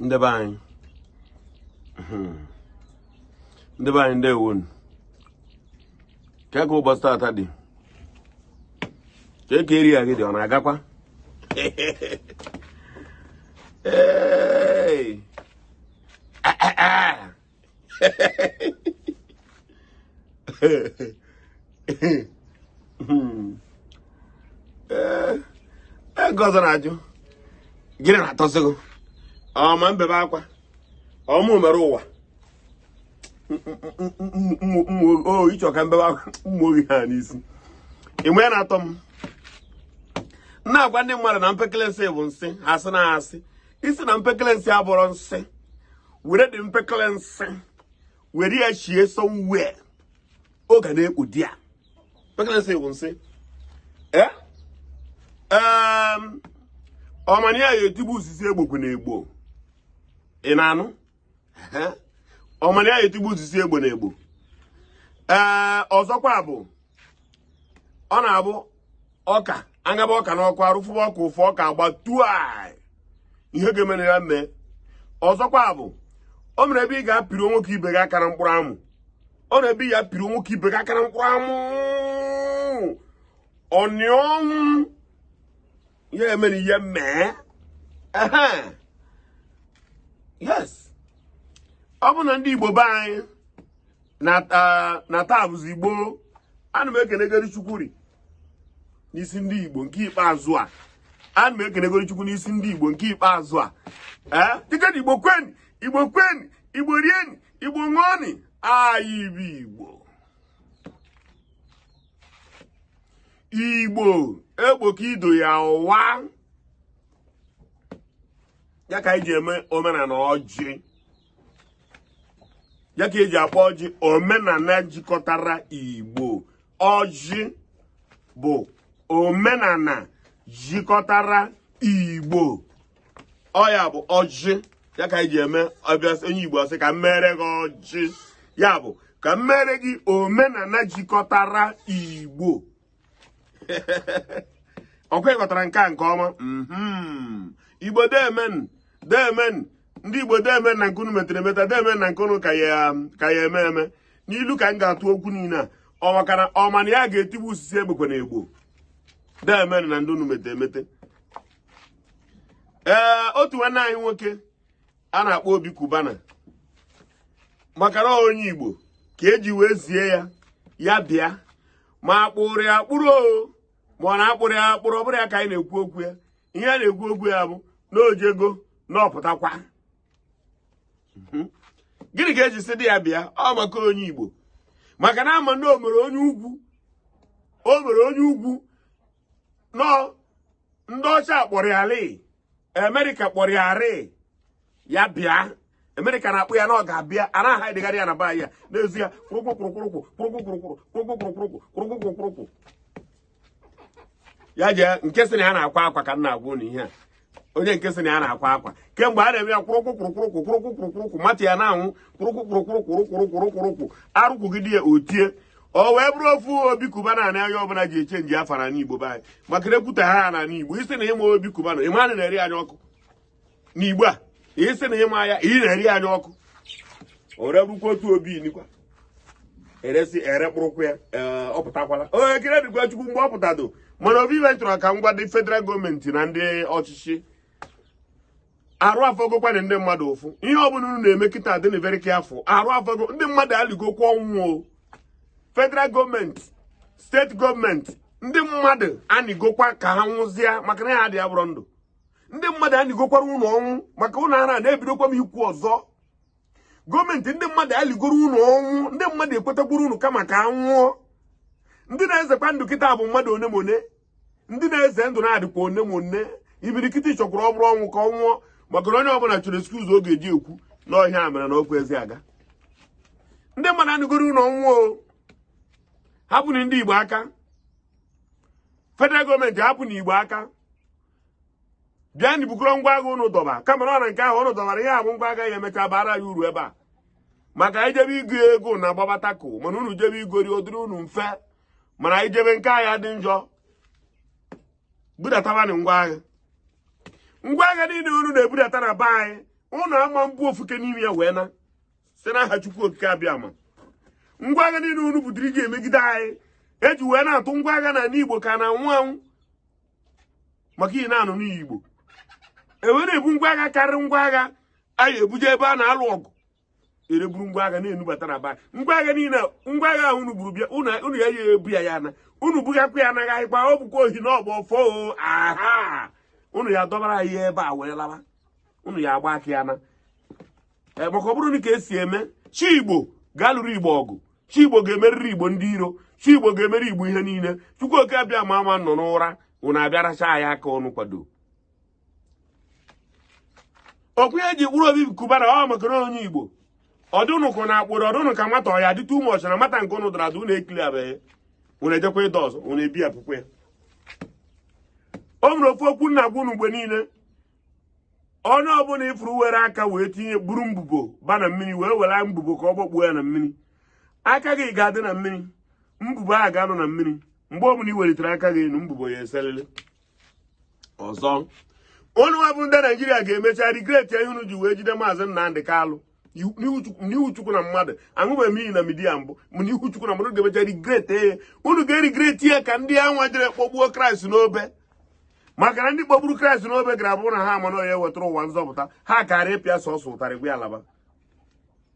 ndị be anyị ndị be anyị ndewo nụ kee ka ụbọchị tata dị kee ka area gị dị ọ na-agakwa Hey! nke ọzọ na-ajụ gịnị na-atọzi gị ọ ma m bebe akwa ọ mụ mere ụwa ị chọ ka m bebe akwa ụmụ ohi ha n'isi ihe a na-atọ m na-agwa ndị mmadụ na mpekele nsị bụ nsị a sị na a sị sị na mpekele nsị abụrọ nsị were dị mpekele nsị were ya chie somewhere ọ ga na-ekpu di ya mpekele nsị bụ nsị ee ọ ma na ya ya-etigbu ọ sị sị egbokwana egbo ị na-anụ ọ ma na ya ya-etigbu ọ sị sị egbona egbo ee ọzọkwa bụ ọ na-abụ ọka anyaba ọka n'ọkụ arụ fụba ọka ụfụ ọka agbaa tua ihe ga-emere ya mee ọzọkwa bụ o mere ebe ị ga-apịrị nwoke ibe gị aka na mkpụrụ amụ o mere ebe ị ga-apịrị nwoke ibe gị aka na mkpụrụ amụ ọnịọnwụ ya emere ihe mee yes ọ bụ na ndị Igbo be anyị na taa bụzi Igbo ana m ekenegoro Chukwu n'isi ndị Igbo nke ikpeazụ a ana m ekenegoro Chukwu n'isi ndị Igbo nke ikpeazụ a ee dịka na Igbo kweni Igbo kweni Igbo rieni Igbo ṅụọni anyị bụ Igbo Igbo egboka ido ya ụwa ya ka anyị ji eme omenala ọjị ya ka e ji akpọ ọjị omenala jikọtara igbo ọjị bụ omenala jikọtara igbo ọ ya bụ ọjị ya ka e ji eme ọbịa onye igbo sị ka m mere gị ọjị ya bụ ka m mere gị omenala jikọtara igbo ọ kwa ị ghọtara nke a nke ọma mhm. igbo deemenụ deemenụ ndị igbo deemenụ na nke unu metere emeta deemenụ na nke unu ka ya-eme eme n'ilu ka m ga-atụ okwu niile a ọ maka na ọ ma na ya ga-etigbu ọ sị sị egbokwana egbo deemenụ na ndị unu mete emete ee otu nwanne anyị nwoke a na-akpọ Obi Cubana maka na onye igbo ka e ji wee zie ya ya bịa ma akpụrụ ya akpụrụ o ma ọ na-akpụrụ ya akpụrụ ọ bụrụ ya ka anyị na-ekwu okwu ya ihe a na-ekwu okwu ya bụ na o jego na ọ pụtakwa gịnị ka eji sịdị ya bịa ọ maka onye igbo maka na ama na o mere onye ugwu o mere onye ugwu nọ ndị ọcha kpọrọ Kyari America kpọrọ Kyari ya bịa America na-akpọ ya na ọ ga-abịa a na-aha edegharị ya na be ya n'ezi ya kwụrụkwụrụkwụrụkwụ kwụrụkwụrụkwụrụ kwụrụkwụrụkwụrụkwụ kwụrụkwụrụkwụrụkwụ ya jee nke sị na ya na-akwa akwa ka m na-agwa unu ihe a o jee nke sị na ya na-akwa akwa kemgbe a na-eme ya kwụrụkwụkwụrụkwụrụkwụ kwụrụkwụkwụrụkwụ matter ya na-anwụ kwụrụkwụkwụrụkwụrụkwụrụkwụrụkwụrụkwụ arụkwụgide ya o tie o wee bụrụ ofu Obi Cubana na onye ọbụla ji eche nji afa na ala igbo be anyị maka na ekwute aha na ala igbo ị sị na ịma Obi Cubana ịma na na-eri anya ọkụ na igbo a ị sị na ịma ya ị na-eri anya ọkụ o were bụrụkwa otu obi nikwa eresi ere kpụrụkwụ ya ee, ọ pụtakwala o ekele dịkwa chukwu mgbe ọ pụtado mana ofu ife chọrọ ka m gwa ndị federal gọọmenti na ndị ọchịchị arụ afụgokwana ndị mmadụ ụfụ ihe ọ bụla unu na-eme kịta dịnụ very careful arụ afụgo ndị mmadụ aligokwa ọnwụ o federal gọọmenti steeti gọọmenti ndị mmadụ anigokwa ka ha nwụzie maka na ihe adị abụrọ ndụ ndị mmadụ anigokwara ụlọ ọnwụ maka ụlọ ara na-ebidokwa m ikwu ọzọ gọọmenti ndị mmadụ aligoro ụlọ ọnwụ ndị mmadụ ekwetakwuru unu kama ka anwụọ ndị na-ezekwa ndụ kịta bụ mmadụ onemone ndị na-eze ndụ na-adịkwa onemone imirikiti chọkwara ọ bụrụ ọnwụ ka ọ nwụọ maka na onye ọbụla chọrọ excuse ọ ga-eji ekwu na ọ ihe a mere na okwu ezi aga ndị mmadụ anigoro ụlọ ọnwụ hapụnụ ndị igbo aka federal gọọmenti hapụnụ igbo aka bịanụ bukọrọ ngwa agha ụnụ dọba kama na ọ na nke ahụ ụnụ dọbara ihe abụ ngwa agha ya emecha bara ya uru ebe a maka ijebe igo ego na agbabata ko mana unu jebe igori ọ dịrị unu mfe mana anyị jebe nke ihe dị njọ budatabanụ ngwa agha ngwa agha niile unu na-ebudata na be anyị ụnụ ama ebu ofu nke n'ime ya wee naa site n'aha Chukwu Okike Abịama ngwa agha niile unu butere iji emegide anyị eji wee na-atụ ngwa agha n'ani Igbo ka na anwụ anwụ maka iyi na-anụ n'iyi Igbo ewere ebu ngwa agha karịrị ngwa agha anyị ebuje ebe a na-alụ ọgụ ewere buru ngwa agha na-enubata n'ebe a ngwa agha niile ngwa agha ahụ unu buru bịa unu ya ya ebu ya ya na unu bughakwa ya anaghị anyịkwa ọ bụkwa ohi na ọgbọ fo aha unu ya adọbara anyị ebe a wee lawa unu ya agba aka ya na eh, maka ọ bụrụ na ka esi eme chi igbo ga-alụrụ igbo ọgụ chi igbo ga-emeriri igbo ndị iro chi igbo ga-emeri igbo ihe niile chukwu oke abịama ama anọ n'ụra unu abịa racha anyị aka n'ọnụ kwado okwu ihe ji kpụrụ obi cubana ọ maka na onye igbo ọ dị ụnụ ka ụnụ akpụrụ ọ dị ụnụ ka nwata ọya dị too much na nwata nke ụnụ dara ada ụnụ ekili abeghị ụnụ ejekwa ịdọ ọzọ ụnụ ebi akwụkwọ ya o nwere ofu okwu m na-agwa ụnụ mgbe niile onye ọbụla ị fụrụ were aka wee tinye buru mbubo ba na mmiri wee were mbubo ka ọ gbakpuo ya na mmiri aka gị ga-adị na mmiri mbubo ahụ ga-anọ na mmiri mgbe ọbụla ị welitere aka gị enu mbubo ya eselele ọzọ unu wa bụ ndị naijiria ga-emecha regret ihe unu ji wee jide maazị Nnamdị Kalụ n'ihu chukwu na mmadụ aṅụbeghị m iyi na media mbụ m n'ihu chukwu na mmadụ ga-emecha regret ya unu ga-eregret ya ka ndị anwa jere kpọgbuo Christ n'obe maka na ndị kpọgburu Christ n'obe gara abụrụ na ha ma na onye wetara ụwa nzọpụta ha kara apịa sọsọ ụtarị gwa ya laba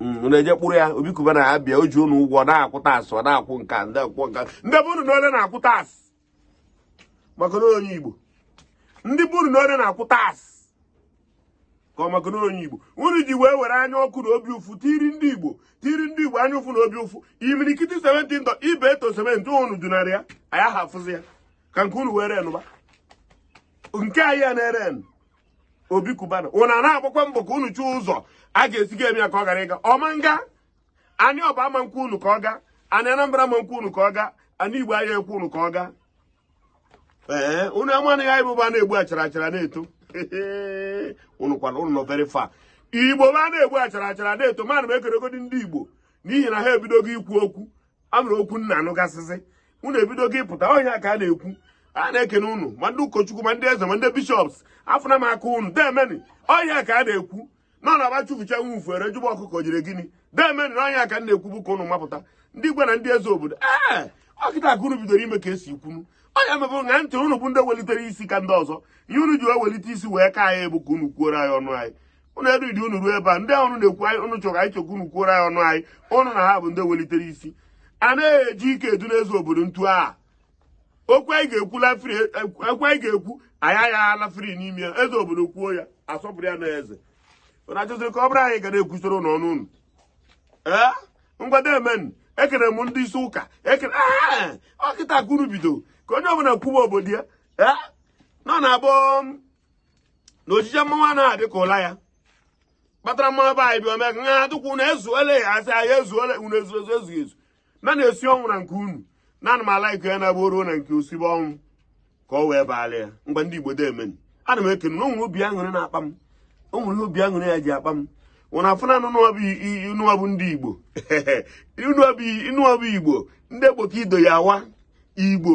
unu mm, eje kpụrụ ya obi cubana abịa o ji unu ụgwọ na-akwụ tax ọ na-akwụ nka ndị akwụkwọ nka ndị be unu ole na-akwụ tax maka na onye Igbo ndị be unu ole na-akwụ tax ka ọ maka na onye Igbo unu ji wee were anya ọkụ na obi ụfụ tiri ndị Igbo tiri ndị Igbo anya ụfụ na obi ụfụ imirikiti cement ndọ Ibeto cement unu dọnarị ya anyị ahafụzi ya ka nke unu were nụba nke anyị ya na-ere obi cubana ụna na-agbakwa mbọ ka unu chụọ ụzọ a ga-esi ga eme ya ka ọ ghara ịga ọ ma nga anị ọba ama nkwe unu ka ọ ga anị anambra ama nkwe unu ka ọ ga anị igbo aya ekwe unu ka ọ ga ee unu amaghị na igbo bụ a na-egbu achara achara na-eto unu kwana unu nọ very far igbo bụ a na-egbu achara achara na-eto mana m ekenegodi ndị igbo n'ihi na ha ebidogo ikwu okwu o nwere okwu m na-anụgasịzị unu ebidogo ịpụta ọ ihe a ka a na-ekwu a na-ekene unu ma ndị ụkọchukwu ma ndị eze ma ndị bishops afụna m aka unu demeni ọ ihe a ka a na-ekwu na ọ na-abụ a chụfụcha nwa ufu e wee jụba ọkụkọ jiri gịnị demeni na ọ ihe a ka m na-ekwu bụ ka unu mapụta ndị igwe na ndị eze obodo ee ọ kịta ka unu bidoro ime ka esi kwunu ọnya mebụ na ntị unu bụ ndị welitere isi ka ndị ọzọ ihe unu ji wee welite isi wee ka anyị bụ ka unu kwuoro anyị ọnụ anyị ụnụ eridi unu ruo ebe a ndị ahụ na-ekwu anyị ụnụ chọrọ anyị chọkwa unu kwuoro anyị ọnụ anyị ụnụ na ha bụ ndị welitere isi a naghị eji ike adọ ndị eze obodo ntị okwu anyị ga-ekwu lafiri ekwu anyị ga-ekwu anyị agha alafiri n'ime ya eze obodo kwuo ya asọpụrụ ya na eze ụnụ achọziri ka ọ bụrụ anyị ga na-ekwusoro ụnụ ọnụ ụnụ ee ngwa demeni ekene m ndị isi ụka ekene ọ kịta ka unu bido ka onye ọbụla kwuba obodo ya ee nọ na abụọ na ojije mmanwụ anaghị adị ka ụla ya kpatara mmanwụ be anyị bịa ome ka nha atụkwu na ezuole ya asị anyị ezuole unu ezuo ezu ezughị ezu na na-esi ọnwụ na nke unu na ana m ala ike ya na-agba oruo na nke osibe ọnwụ ka ọ wee baala ya ngwa ndị igbo demeni ana m ekene na o nwere obi aṅụrị na-akpa m o nwere obi aṅụrị ya ji akpa m nwụna afụ na anụ nụọbụ ndị igbo inụọbụ igbo ndị igbo ka ido ya awa igbo